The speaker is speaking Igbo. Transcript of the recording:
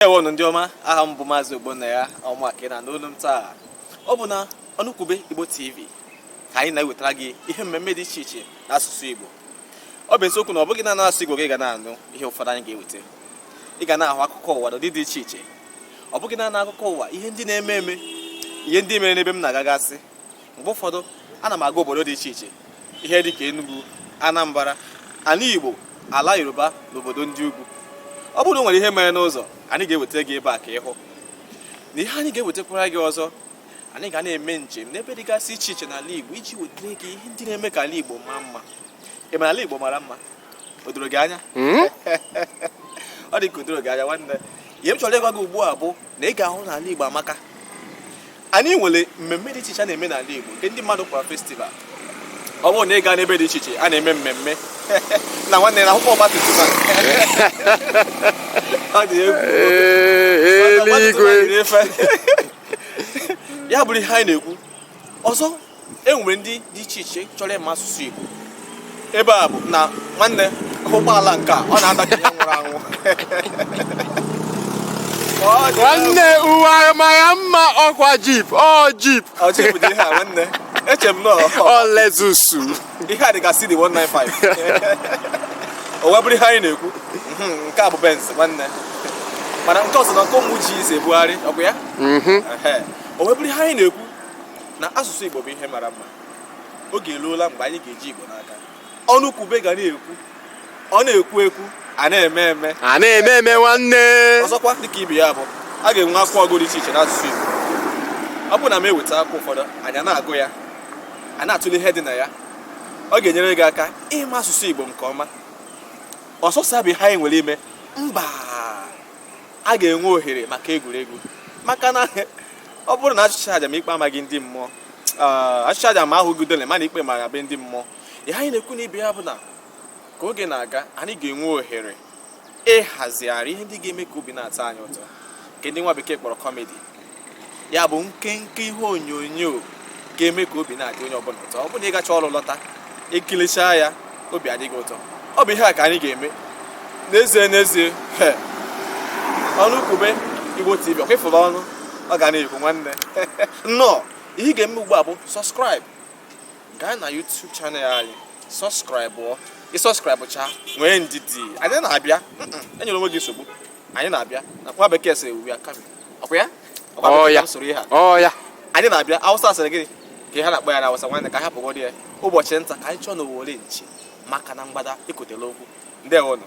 ewonụ ndị ọma aha m bụ maazị ogbonnaya ọ mụa ka ị na-anụ olu m taa ọ bụ na ọnụkwube igbo tv ka anyị na-ewetara gị ihe mmemme dị iche iche na asụsụ igbo ọ bụ eziokwu na ọ bụghị naanị asụsụ igbo ka ị ga na-anụ ihe ụfọdụ anyị ga-eweta ị ga na-ahụ akụkọ ụwa n'ụdị dị iche iche ọ bụghị naanị akụkọ ụwa ihe ndị na-eme eme ihe ndị mere n'ebe m na-agagasị mgbe ụfọdụ ana m aga obodo dị iche iche ihe dị ka Enugu Anambra ala Igbo ala Yoruba na obodo ndị ugwu ọ bụrụ na e nwere ihe mere n'ụzọ anyị ga-ewetara gị ebe a ka ị hụ na ihe anyị ga-ewetakwara gị ọzọ anyị ga na-eme njem n'ebe dịgasị iche iche n'ala Igbo iji wetara gị ihe ndị na-eme ka ala Igbo maa mma ị ma na ala Igbo mara mma o doro gị anya hmm? ọ dị ka o doro gị anya nwanne ihe m chọrọ ịgwa gị ugbu a bụ na ị ga-ahụ na ala Igbo amaka anyị nwere mmemme dị iche iche a na-eme n'ala Igbo nke ndị mmadụ kpọrọ festival ọ bụrụ na ị gaa n'ebe dị iche iche a na-eme mmemme na nwanne na akwụkwọ ọgbatumtum ọ dị egwu eluigwe ya bụrụ ihe anyị na-ekwu ọzọ e nwere ndị dị iche iche chọrọ ịma asụsụ Igbo ebe a bụ na nwanne ụgbọala nke a ọ na-adanye ihe nwụrụ anwụ nwanne uwe mara mma ọkwa jeep ọ jeep ọ jeep dị ihe a nwanne eche m na ọ Lexus ihe a dịgasị dị 195 o wee bụrụ ihe anyị na-ekwu mhm, nke a bụ benz nwanne mana nke ọzọ na nke ụmụ ji ise ebugharị ọkwa ya mhm. o wee bụrụ ihe anyị na-ekwu na asụsụ Igbo bụ ihe mara mma oge eruola mgbe anyị ga-eji Igbo n'aka ọnụkwube ga na-ekwu a na-ekwu ekwu a na-eme eme a na-eme eme nwanne ọzọkwa dịka ibe ya bụ a ga-enwe akwụkwọ ọgụgụ dị iche iche n'asụsụ Igbo ọ bụrụ na m eweta akwụkwọ ụfọdụ anyị na-agụ ya a na-atụle ihe dị na ya ọ ga-enyere gị aka ịma asụsụ Igbo nke ọma ọ sọsọ ya bụ ihe anyị nwere ime mba a ga-enwe ohere maka egwuregwu maka na ọ bụrụ na a chụchaa aja ma ikpe amaghị ndị mmụọ a chụchaa aja ma a hụghị udele ma na ikpe mara be ndị mmụọ ihe anyị na-ekwu n'ebe a bụ na ka oge na-aga anyị ga-enwe ohere ịhazigharị ihe ndị ga-eme ka obi na-atọ anyị ụtọ nke ndị nwa bekee kpọrọ kọmedi ya bụ nkenke ihe onyonyo ga-eme ka obi na-adị onye ọbụla ụtọ ọ bụrụ ị gachaa ọrụ lọta i kilichaa ya obi adị gị ụtọ ọ bụ ihe a ka anyị ga-eme n'ezie n'ezie ọnụkwube Igbo TV ọkwa ị fụrụ ọnụ ọ ga na-ekwu nwanne nnọọ ihe ị ga-eme ugbu a bụ subscribe gaa na YouTube channel anyị subscribe ị subscribe chaa nwee ndidi anyị na-abịa enyela onwe gị nsogbu anyị na-abịa nwa bekee sịrị we are ọkwa ya Ọkwa Ọ ya. m soro ihe a ọ ya anyị na-abịa awụsa a sịrị gịnị ka ha na-akpọ ya na awụsa nwanne ka anyị hapụgodị ya ụbọchị nta ka anyị chụọ na owere nchi maka na mgbada ịkụtela okwu ndewonụ